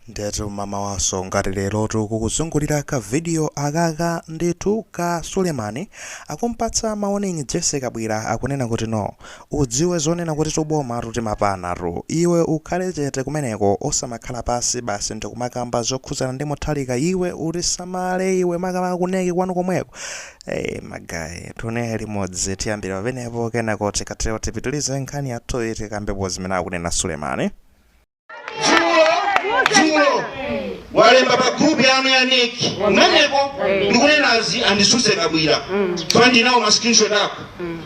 Ndetu mmawa wanso ngati lerotu kukuzungulira ka video akaka ndithu ka Sulemani akumpatsa warning Jessie Kabwila akunena kuti no udziwe zonena kuti tubomatu timapanatu iwe ukhale chete kumeneko osamakhala pansi basi ndikumakamba zokhuzana ndi Mutharika iwe usamale iwe makamaka ku NEC kwanu komweko ee magaye tione limodzi tiyambire pamenepo kenako tikatero tipitilize nkhani yathuyi tikambepo zimene akunena Sulemani. dzulo walemba pa grupu yanu ya NEC kumeneko ndikunenazi andisuse Kabwila koma ndinawo ma screenshot ako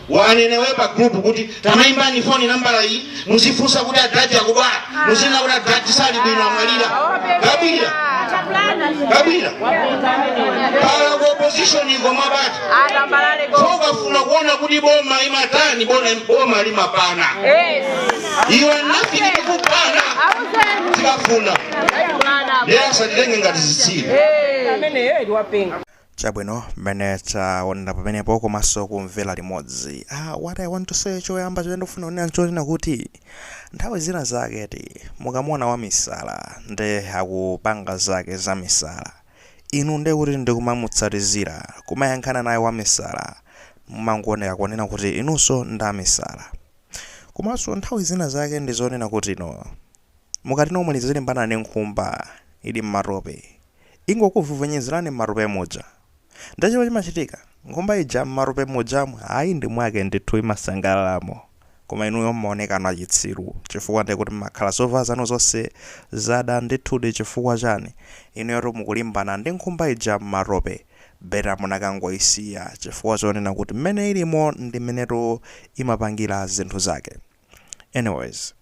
wanenewe pa grupu kuti tamayimbani foni nambala iyi muzifunsa kuti adadi akudwala muzinena kuti adadi sali bwino amwalira Kabwila Kabwila pala ku opposition iko mwabati atambala leko ukafuna kuona kuti boma imatani boma boma limapana Yes. iwe nothing ndikupana tikafuna ndiye asatitenge ngati zitsiru ameneyo eti wapenga chabwino mmene taonera pamenepo komanso kumvera limodzi ah, what i want to say choyamba chimene ndikufuna kunena nchonena kuti nthawi zina zake eti mukamuona wa misala nde akupanga zake za misala inu ndiye kuti ndikumamutsatizira kumayankhana naye wa misala mumangoneka kunena kuti inunso ndi amisala Komanso nthawi zina zake ndi zonena kuti no. Mukati no muzilimbana ndi nkhumba ili m'matope, ingokuvuvunyezelani m'matope muja. Ndiye chomwe chimachitika, nkhumba ija m'matope mujamu, ayi ndi mwake ndithu imasangalalamo. Koma inuyo m'maonekano achitsiru chifukwa ndiye kuti m'makhala zovala zanu zonse zada ndithudi chifukwa chani? Inuyotu mukulimbana ndi nkhumba ija m'matope. Better munakangoyisiya chifukwa chonena kuti mmene ilimo ndi mmenetu imapangira zinthu zake. Anyways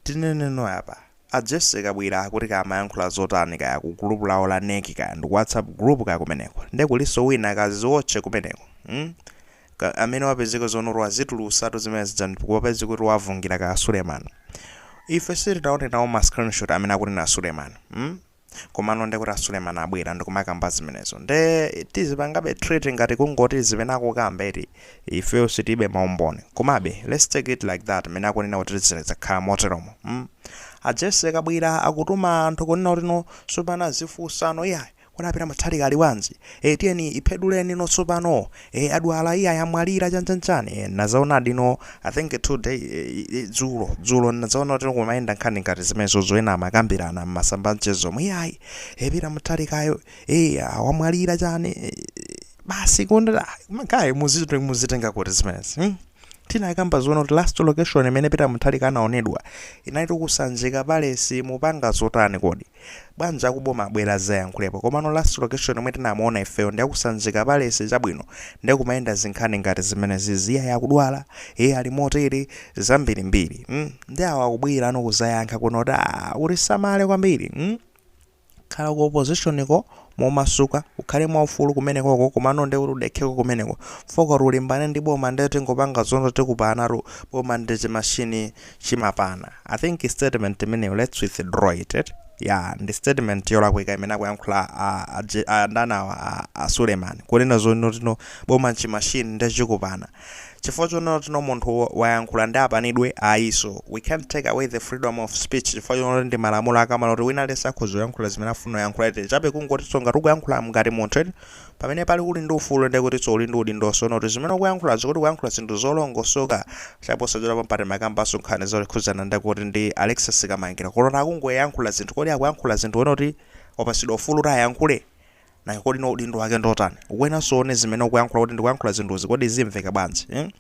tineneno apa a Jessie Kabwila kuti kaya amayankhula zotani kaya ku group lawo la NEC kaya ndiku WhatsApp group kaya kumeneko nde kulinso wina kaziwotche kumeneko mm ka amene wapezeka zonoti wazitulutsatu zimene zija nde zapezeka kuti wavungira kaya Suleman ife sitinaone nawo ma screenshot amene akunena Suleman mm Komano nde kuti a Suleman abwera ndikumakamba zimenezo nde tizipangabe treat ngati kungoti zimene akukamba eti ifeyo sitili ndi ma umboni komabe let's take it like that mmene akunena kuti zakhala moteromo mm a Jessie Kabwila akutuma anthu kunena kuti no tsopano azifunsano iyayi kodi a Peter Mutharika ali bwanji ee tiyeni ipheduleni no tsopano e adwala iyayi amwalira chanchanchani e, nazaonadi no i think today e, e, dzulo dzulo nazaona kuti kumayenda nkhani ngati zimenezo zonena amakambirana mmasamba amchezo omwe iyayi a Peter Mutharikayo e, ah, wamwalira chani e, basi kundira magaye muzitenga kuti zimenezi hmm? Tinakamba zonena kuti last location imene Peter Mutharika anaonedwa inalitu ku Sanjika Palace mupanga zotani kodi? Bwanji akuboma abwere azayankhulepo komano last location yomwe tinamuona ifeyo ndi ya ku Sanjika Palace chabwino nde kumayenda zinkhani ngati zimenezizi iyayi akudwala ee ali motere zambirimbiri mm ndi awa akubwerano kuzayankha kuno kuti aah utisamale kwambiri mm. Khala ku opposition ko momasuka, ukhale mwaufulu kumenekoko komano nde udekheko kumeneko chifukwa ukati ulimbane ndi boma nde tingopanga zonoti tikupanatu boma ndi chi machine chimapana. I think statement imeneyi let's withdraw it eti. Yeah ndi statement yolakwika imene akuyankhula a a ndani awa a Suleman kunena zonotino boma nchi machine nde chikupana. Chifukwa chonotino munthu wayankhula nde apanidwe ayiso. We can't take away the freedom of speech chifukwa chonoti ndi malamulo akamalola kuti wina aliyense akhoza kuyankhula zimene akufuna kuyankhula eti chabe kungotiso ngati ukuyankhula ngati munthu eti pamene pali uli ndi ufulu nde kutiso uli ndi udindoso onoti zimene ukuyankhulazo kuti ukuyankhula zinthu zolongosoka chifukwa posachedwapa mpa timakambanso nkhani zokhuzana ndi kuti ndi Alexis Kamangira kuona akungoyankhula zinthu kodi akuyankhula zinthu ponoti wapasidwa ufulu oti ayankhule? Nanga kodi no udindo wake ndotani? Ukuyeneranso uone zimene ukuyankhula kuti ndikuyankhula zinthuzi kodi zimveka bwanji. Hmm?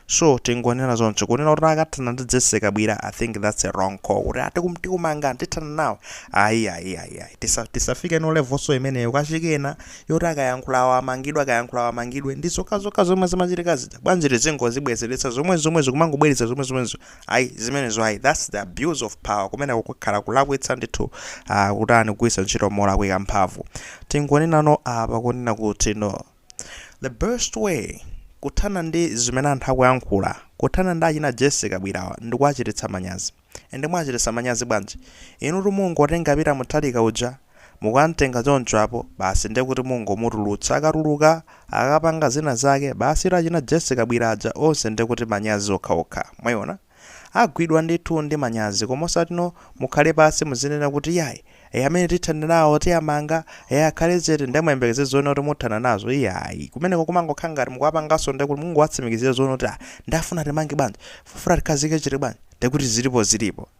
So tingonena zoncho kunena kuti akathana ndi Jesse Kabwila I think that's a wrong call kuti ati kum- tikumanga tithana nawo. Ayi ayi ayi ayi tisa tisafike mu levelso imeneyo kachikena yoti akayankhula awo amangidwe akayankhula awo amangidwe ndi zokhazokha zomwe zimachitika zija bwanji tizingozibwezeretsa zomwezomwezi kumangobweretsa zomwezomwezo Ayi zimenezo ayi that's the abuse of power kumeneko kukhala kulakwitsa ndithu ah, kutani kugwiritsa ntchito molakwika mphamvu tingonenano apa kunena kuti no the best way kuthana ndi zimene anthu akuyankhula kuthana ndi achina Jesse Kabwilawa ndikuwachititsa manyazi ende mwachititsa manyazi bwanji inu mungotenga Peter Mutharika uja Mukamtenga choncho apo basi nde kuti mungomutulutsa akatuluka akapanga zina zake basitu achina Jesse Kabwila aja onse nde kuti manyazi okhaokha mwaiona agwidwa ndithu ndi manyazi koma osatino mukhale pasi muzinena kuti yayi ee amene tithana nawo tiamanga ee akhale chete nde muyembekeze zonena kuti muthana nazo iyayi kumeneko kumangokhala ngati mukuwapangaso nde kuti mungowatsimikizira zonena kuti ah nde afuna atimange bwanji afuna atikhazike chete bwanji nde kuti zilipo zilipo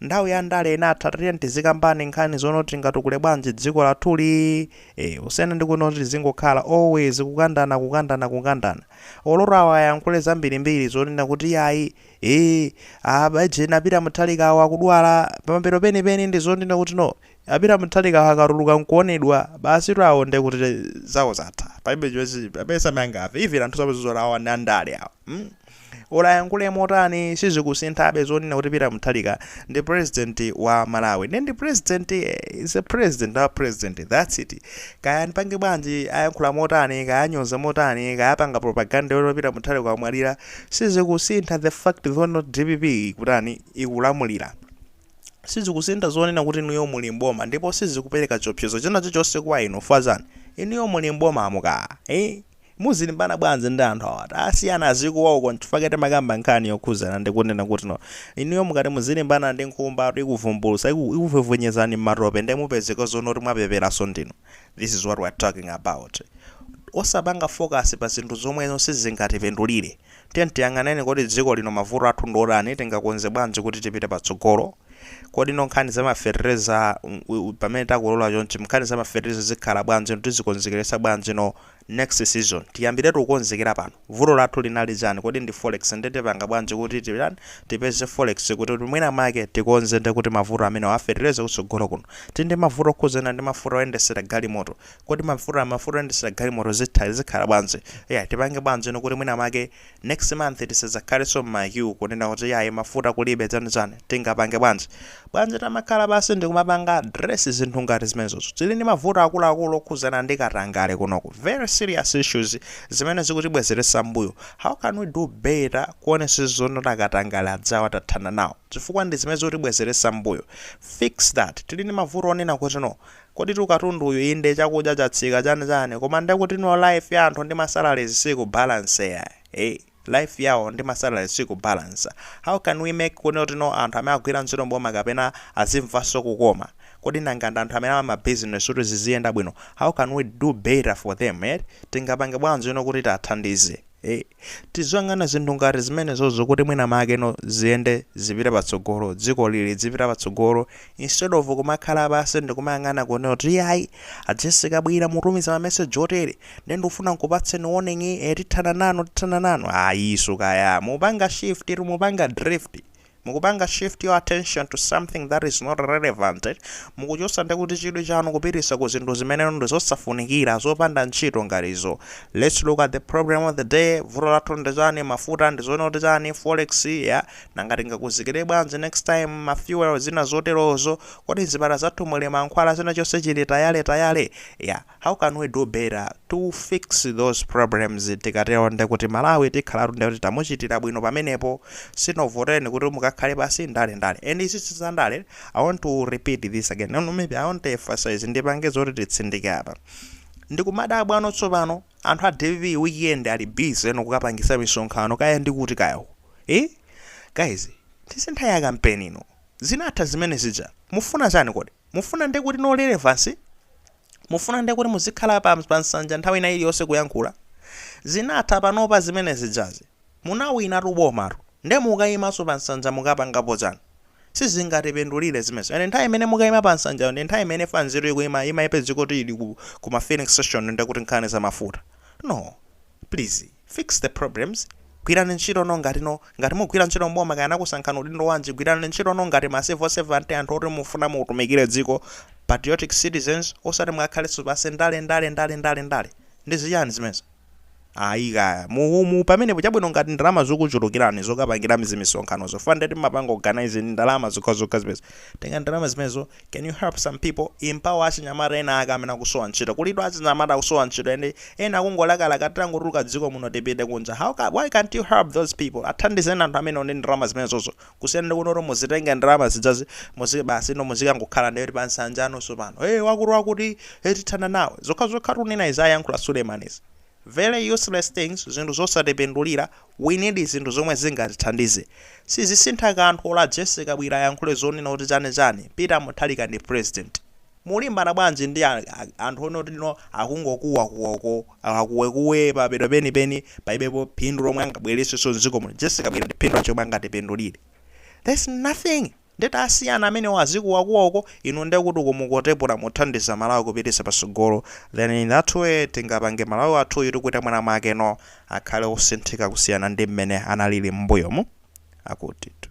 Nthawi ya ndale inatha tatiyeni tizikambana nkhani zonena kuti tingatukule bwanji dziko lathuli eh, kusiyana ndi kunena kuti tizingokhala always kukandana kukandana kukandana oloro awa ayankhule zambirimbiri zonena kuti yayi eh, ah, aujeni a Peter Mutharika awo akudwala pamapeto penipeni ndi zonena kuti no A Peter Mutharika akatuluka nkuonedwa basitu awo nde kuti zawo zatha palibe chimene palibe samene angamve even anthuso amazizora awa ndi andale awa mm or ayankule motani sizikusinthabe zonena kuti Peter Mutharika ndi president wa Malawi nde ndi president is a president ndi wa president that's it kaya andipange bwanji ayankhula motani kaya anyoza motani kaya apanga propaganda yoti Peter Mutharika wamwalira sizikusintha the fact that DPP ikutani ikulamulira sizikusintha zonena kuti inuyo muli m'boma ndipo sizikupereka chiopsezo china chilichonse kwa inu chifukwa chani inuyo muli m'bomamo ka ii muzilimbana bwanji ndi anthu awa tasiyani azikuwa uko nchifukwa chake timakamba nkhani yokhuzana ndi kunena kuti no inuyo mukati muzilimbana ndi nkhumba tu ikuvumbulutsa iku, ikuvwevwenyezani m'matope nde mupezeka zonena kuti mwapeperanso ndinu this is what we are talking about osapanga focus pa zinthu zomwe izo sizingatipindulire Tiyeni tiyang'aneni kodi dziko lino mavuto athu ndi otani, tingakonze bwanji kuti tipite patsogolo. Kodi no nkhani za ma fetereza pamene takolola chonchi nkhani za ma fetereza zikhala bwanji no tizikonzekeretsa bwanji no next season tiyambiretu kukonzekera pano. Vuto lathu linali chani kodi ndi forex nde tipanga bwanji kuti titani tipeze forex kuti kuti mwina mwake tikonze nde kuti mavuto amenewa a fetereza kutsogolo kuno. Tili ndi mavuto okhudzana ndi mafuta oyendetsera galimoto. kodi mafuta mafuta oyendesera galimoto zitha zikhala bwanji yeah tipange bwanji no kuti mwina make next month tisadzakhalenso mma queue kunena kuti yayi mafuta kulibe chani chani tingapange bwanji bwanji tamakhala basi ndikumapanga address zinthu ngati zimenezozo tili ndi mavuto akuluakulu okhuzana ndi katangale kunoku very serious issues zimene zikutibwezeretsa mbuyo how can we do better kuonesa zonoti katangale adzawa tathana nawo chifukwa ndi zimene zikutibwezeretsa mbuyo fix that tili ndi mavuto onena kuti no Koditu katundu uyu inde chakudya chatsika chani chani koma ndekuti no life ya anthu ndi ma salaries sikubalancea ee life yawo ndi ma salaries sikubalancer how can we make kunena kuti no anthu amene akugwira ntchito m'boma kapena azimvanso kukoma kodi nanga ndi anthu amene ama ma business kuti ziziyenda bwino how can we do better for them eti tingapange bwanji no kuti tiathandize Eeh tiziyang'ana zinthu ngati zimenezozo kuti mwina make no ziyende zipite patsogolo dzikoli lidzipita patsogolo instead of kumakhala pansi ndikumayang'ana kunena kuti ayi a Jessie Kabwila mutumiza ma message otere nde ndikufuna nkupatseni warning eh tithana nanu tithana nanu ayiso kaya mupanga shift inu mupanga drift Mukupanga shift your attention to something that is not relevant, Mukuchosa nde kuti chidwi chanu kupitisa ku zinthu zimeneno ndi zosafunikira, zopanda ntchito ngati izo. Let's look at the problem of the day, Vuto lathu ndi chani, mafuta ndi zonena kuti chani, forex, yeah, nanga tingakonzekere bwanji next time, ma fuel, zina zoterozo, kodi mzipatala zathu muli mankhwala, china chonse chili tayale tayale, yeah. How can we do better to fix those problems tikatero ndekuti Malawi tikhalatu ndekuti tamuchitira bwino pamenepo sitinakuvotereni kuti mukakhale basi ndale ndale and izizi za ndale I want to repeat this again no, maybe I want to emphasize ndipange zoti titsindike apa ndikumadabwa ano tsopano anthu a dpp weekend ali busy no kukapangisa misonkhano kaya ndi kuti kaya uko eh guys si nthawi ya kampeni ino zinatha zimene zija mufuna chani kodi mufuna ndekuti no relevance Mufuna nde kuti muzikhala pa pa nsanja nthawi ina iliyonse kuyankhula? Zinatha panopa zimene zijazi. Munawinatu bomatu. Nde mukaimanso pa nsanja mukapangapo chani? Sizingatipindulire zimenezo. And nthawi imene mukaima pa nsanjayo ndi nthawi imene fuel ikuma imapezeka kuti ili ku ku ma filling station nde kuti nkhani za mafuta? No please. Fix the problems, Gwirani ntchito no ngati no, ngati mukugwira ntchito m'boma kaya anakusankhani udindo wanji, gwirani ntchito no ngati ma civil servant anthu oti mufuna mutumikire dziko, patriotic citizens, osati mukakhalenso basi ndale ndale ndale ndale ndale. Ndi zichani zimenezo? Ayi kaya. Mu, mu, pamenepo chabwino ngati ndalama zukuchulukirani zokapangira zimisonkhanozo, funded mmapanga organise ndi ndalama zokhazokha zimenezo, tengani ndalama zimenezo can you help some people empower achinyamata ena ake amene akusowa ntchito kulitu achinyamata akusowa ntchito and ena akungolakalaka titangotuluka dziko muno tipite kunja how can why can't you help those people athandizeni anthu amenewo ndi ndalama zimenezozo kusiyana ndi kunoti muzitenge ndalama zijazi muzi basi no muzikangokhala ndiye kuti pa nsanja nonse pano hey wakuti wakuti hey tithana nawe zokhazokha tunena izi ayankhula Suleiman izi Very useless things, zinthu zosatipindulira, we need zinthu zomwe zingatithandize. Sizisintha kanthu olo a Jessie Kabwira ayankhule zonena kuti chani chani, Peter Mutharika ndi president. Mulimbana bwanji ndi anthu onoti no akungokuwa kuwa uko, akuwe kuwe mapeto peni peni palibepo phindu lomwe angabweresenso mdziko muno. Jessie Kabwira ndi phindu lanji lomwe angatipindulire? There's nothing. Nde tasiyani amenewo azikuwakuwa uko, inu ndekuti uko mukutakula muthandiza Malawi kupitisa pasogolo then in that way tingapange Malawi wathuyu ndikuti mwina mwake no akhale osinthika kusiyana ndi mmene analili mmbuyomu. Akutitu.